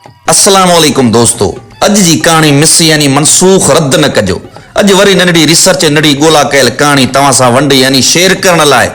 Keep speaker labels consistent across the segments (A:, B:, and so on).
A: السلام عليڪم دوستو اڄ جي ڪهاڻي مس يعني منسوخ رد نه ڪجو اڄ وري ننڍڙي ريسرچ ۽ ننڍڙي ڳولا ڪيل ڪهاڻي توهان سان ونڊ يعني شيئر ڪرڻ لاء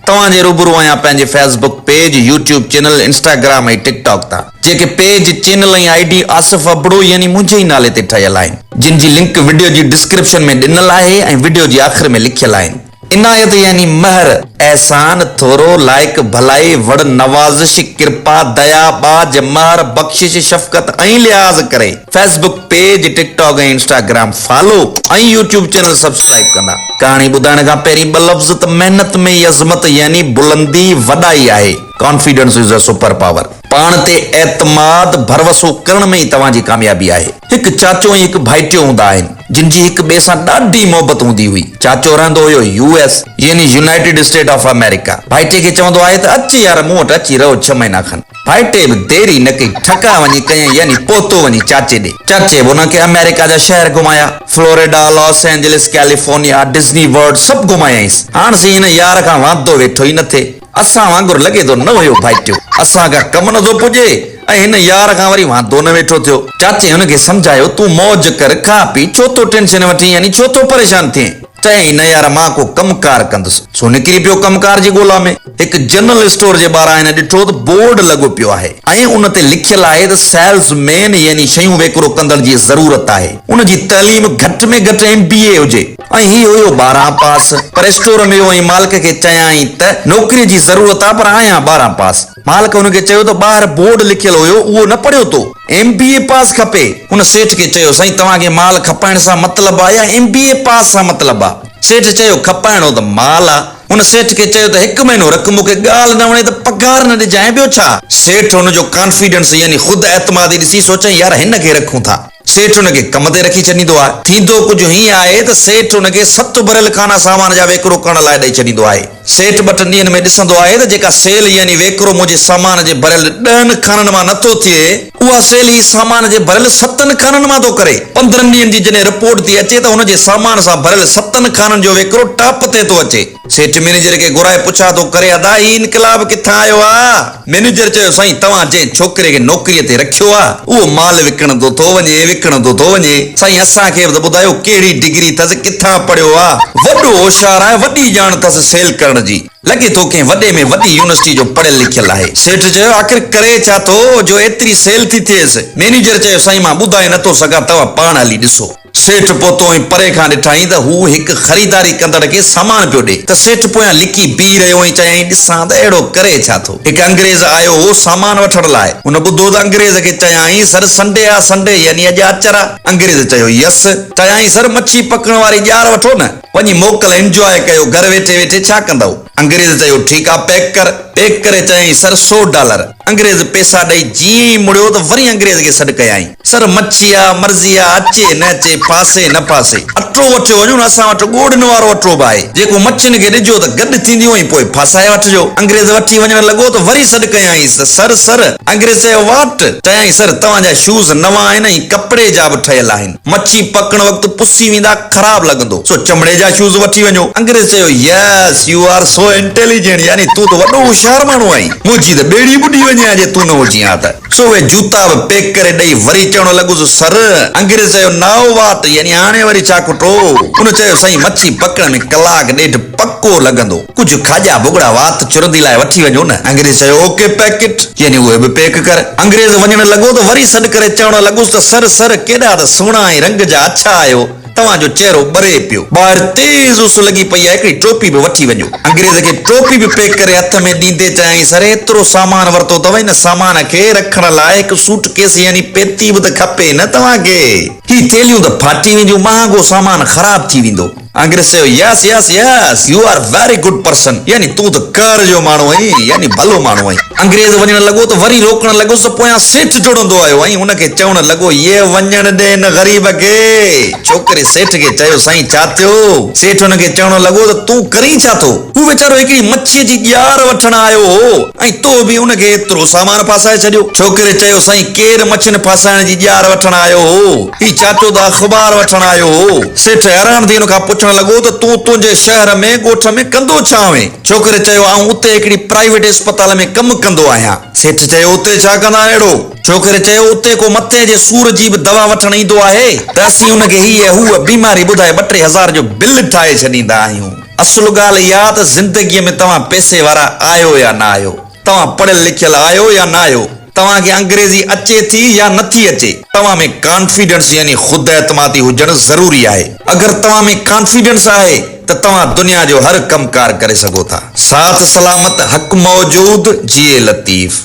A: توهان جي روبرو آهيان پنهنجي Facebook page YouTube channel Instagram ۽ TikTok تان جيڪي page channel ۽ I D Asif Abro يعني منهنجي ئي نالي تي ٺهيل آهن جن جي لنڪ وڊيو جي ڊسڪرپشن ۾ ڏنل آهي ۽ وڊيو جي آخر ۾ لکيل آهن. عنايت يعني مهر، احسان، ٿورو، لائق، ڀلائي، وڙ، نوازش، ڪرپا، ديا، ٻاجهه، مهر، بخشش، شفقت ۽ لحاظ ڪري. Facebook page, TikTok ۽ Instagram follow ۽ YouTube channel subscribe ڪندا. ڪهاڻي ٻڌائڻ کان پهرين ٻه لفظ ته محنت ۾ ئي عظمت يعني بلندي، وڏائي آهي. Confidence is a Super Power. پاڻ تي اعتماد، ڀروسو، ڪرڻ ۾ ئي توهان جي ڪاميابي آهي. هڪ چاچو ۽ هڪ ڀائٽيو هوندا آهن، جن جي هڪ ٻئي سان ڏاڍي محبت هوندي هئي. چاچو رهندو هيو يو ايس، يعني يونائيٽيڊ اسٽيٽ آف آمريڪا. ڀائٽي کي چوندو آهي ته اچ يار مون وٽ اچي رهو ڇهه مهينا کن. ڀائٽي به دير ئي نه ڪئي، ٺڪاء وڃي ڪيائين، يعني پهتو وڃي چاچي ڏي. چاچي به هن کي آمريڪا جا شهر گهمايا، Florida, Los Angeles, California, Disney World سڀ گهمايائينس. هاڻ سين هن يار کان واندو ويٺو ئي نه ٿئي. اسان وانگر لڳي ٿو نه هيو ڀائٽيو، اسان کان ڪم نه ٿو پڄي ۽ هن يار کان وري واندو نه ويٺو ٿيو. چاچي هن کي سمجهايو، تون موج ڪر، کاء پي، ڇو ٿو ٽينشن وٺين يعني ڇو ٿو پريشان ٿئين؟ چيائين نه يار مان ڪو ڪم ڪار ڪندس. سو نڪري پيو ڪم ڪار جي ڳولا ۾. هڪ جنرل اسٽور جي ٻاهران هن ڏٺو ته بورڊ لڳو پيو آهي ۽ ان تي لکيل آهي ته سيلز مين يعني شيون ويڪرو ڪندڙ جي ضرورت آهي، ان جي تعليم گهٽ ۾ گهٽ ايم بي اي هجي. ۽ هي هيو ٻارهن پاس. پر اسٽور ۾ ويو ۽ مالڪ کي چيائين ته نوڪريء جي ضرورت آ پر آهيان ٻارهن پاس. مالڪ هن کي چيو ته ٻاهر بورڊ لکيل هيو اهو نه پڙهيو تو؟ ايم بي اي پاس کپي. هن سيٺ کي چيو سائين توهان کي مال کپائڻ سان مطلب آ يا ايم بي اي پاس سان مطلب آ؟ سيٺ چيو کپائڻو ته مال آ. هن سيٺ کي چيو ته هڪ مهينو رک مون کي ڳالهه نه وڻي ته پگهار نه ڏجانء ٻيو ڇا؟ سيٺ هن جو ڪانفيڊنس يعني خود اعتمادي ڏسي سوچيائين يار هن کي رکون ٿا. سيٺ ان کي ڪم تي رکي ڇڏيندو آهي. ٿيندو ڪجهه هيئن آهي ته سيٺ ان کي ست اڀريل کانا سامان جا ويڪرو ڪڻڻ لاء ڏئي ڇڏيندو آهي. سيٺ ٻه ٽن ڏينهن ۾ ڏسندو آهي ته جيڪا سيل يعني ويڪرو منهنجي سامان جي ڀريل ڏهن کانن مان نه ٿو ٿئي، اها سيل هي سامان جي ڀريل ستن کانن مان ٿو ڪري. پندرهن ڏينهن جي جڏهن رپورٽ ٿي اچي ته هن جي سامان سان ڀريل ستن کانن جو ويڪرو ٽاپ تي ٿو اچي. سيٺ مئنيجر کي گهرائي پڇا ٿو ڪري ادا هي انقلاب ڪٿان آيو آ؟ مئنيجر چيو سائين توهان جنهن ڇوڪري کي نوڪري تي رکيو آ اهو مال وڪڻندو ٿو وڃي وڪڻندو ٿو وڃي سائين اسان کي به ته ٻڌايو ڪهڙي ڊگري ٿس ڪٿان پڙهيو آ؟ وڏو هوشيار آهي وڏي ڄاڻ ٿس سيل ڪرڻ جي لڳي ٿو ڪنهن وڏي ۾ وڏي يونيورسٽي جو پڙهيل لکيل آهي. سيٺ چيو آخر ڪري ڇا ٿو جو ايتري سيل ٿي ٿئيس؟ مئنيجر چيو سائين مان ٻڌائي نه ٿو سگهان توهان پاڻ هلي ڏسو. سيٺ پهتو ۽ پري کان ڏٺائين ته هو هڪ خريداري ڪندڙ کي سامان پيو ڏئي ته سيٺ پويان لڪي بيهي رهيو ۽ چيائين ڏسان ته اهڙو ڪري ڇا ٿو. هڪ انگريز آيو هو سامان وٺڻ لاء. هن ٻڌو ته انگريز کي چيائين سر سنڊي آ سنڊي يعني اڄ آچر آ. انگريز چيو يس. چيائين سر مڇي پڪڻ واري ڄار وٺو نه. وڃي موڪل انجواء ڪيو گهر ويٺي ويٺي ڇا ڪندؤ. انگريز چيو ٺيڪ آ پيڪ ڪر. پيڪ ڪري چيائين سر سو ڊالر. انگريز پيسا ڏئي جيئن ئي مڙيو ته وري انگريز کي سڏ ڪيائين. سر مڇيا، مرضيا، اچي نه اچي، ڦاسي نه ڦاسي، اٽو وٺيو وڃو نه، اسان وٽ ڳوڙهن وارو اٽو به آهي، جيڪو مڇين کي ڏجو ته گڏ ٿينديون ۽ پوء ڦاسائي وٺجو. انگريز وٺي وڃڻ لڳو ته وري سڏ ڪيائينس ته سر، سر! انگريز چيو واٽ؟ چيائين سر توهان جا شوز نوان آهن ۽ ڪپڙي جا به ٺهيل آهن. مڇي پڪڻ وقت پسي ويندا خراب لڳندو سو چمڙي جا شوز وٺي وڃو. انگريز چيو yes you are so intelligent يعني تون ته وڏو هوشيار ماڻهو آهين منهنجي ته ٻيڙي ٻڏي وڃي ها جي تون نه هجين ها ته سو اهي جوتا به پيڪ ڪري ڏئي وري چوڻ لڳس سر انگريز چيو نائو واٽ يعني هاڻي وري ڇا کٽو ان چيو سائين مڇي پڪڻ ۾ ڪلاڪ ڏيڍ پڪو لڳندو. ڪجهه کاڄا ڀڳڙا وات چرندي لاء وٺي وڃو نه. انگريز چيو، او ڪي پيڪٽ، يعني اهي به پيڪ ڪر. انگريز وڃڻ لڳو ته وري سڏ ڪري چوڻ لڳس ته سر، سر، ڪيڏا ته سهڻا ۽ رنگ جا اڇا آهيو، توهان جو چهرو ٻري پيو. ٻاهر تيز اس لڳي پئي آهي، هڪڙي ٽوپي به وٺي وڃو. انگريز کي ٽوپي به پيڪ ڪري هٿ ۾ ڏيندي چيائين، سر، ايترو سامان ورتو اٿو، هن سامان کي رکڻ لاء هڪ سوٽ ڪيس يعني پيتي به ته کپي نه توهان کي. هي ٿيلهيون ته ڦاٽي وينديون، مهانگو سامان خراب ٿي ويندو. انگريز چيو، yes yes yes you are very good person يعني تون ته ڪهر جو ماڻهو آهين يعني ڀلو ماڻهو آهين. انگريز وڃڻ لڳو ته وري روڪڻ لڳس ته پويان سيٺ ڊوڙندو آيو ۽ هن کي چوڻ لڳو، يي وڃڻ ڏي هن غريب کي. ڇوڪري سيٺ کي چيو، سائين ڇا ٿيو؟ سيٺ هن کي چوڻ لڳو ته تون ڪرين ڇا ٿو؟ هو ويچارو هڪڙي مڇيء جي ڄار وٺڻ آيو هو ۽ تو به ان کي ايترو سامان ڦاسائي ڇڏيو. ڇوڪري چيو، سائين ڪير مڇين ڦاسائڻ جي ڄار وٺڻ آيو هو؟ هي چاٽو ته اخبار وٺڻ آيو هو. سيٺ حيران ٿي هن کان پڇڻ لڳو ته تون تنهنجي شهر ۾ ڳوٺ ۾ ڪندو ڇا آهين؟ ڇوڪري چيو آئون اتي هڪڙي پرائيويٽ اسپتال ۾ ڪم ڪندو آهيان. سيٺ چيو اتي ڇا ڪندا آهن اهڙو؟ ڇوڪري چيو اتي ڪو مٿي جي سور جي به دوا وٺڻ ايندو آهي ته اسين ان کي هي هوء بيماري ٻڌائي ٻه ٽي هزار جو بل ٺاهي ڇڏيندا آهيون. اصل ڳالهه اها ته زندگيء ۾ توهان پئسي وارا آهيو يا نه آهيو. توهان پڙهيل لکيل آهيو يا نه آهيو؟ توهان کي انگريزي اچي ٿي يا نٿي اچي؟ توهان ۾ ڪانفيڊنس يعني خود اعتمادي هجڻ ضروري آهي. اگر توهان ۾ ڪانفيڊنس آهي ته توهان دنيا جو هر ڪم ڪار ڪري سگهو ٿا. ساٿ سلامت حق موجود جيئي لطيف.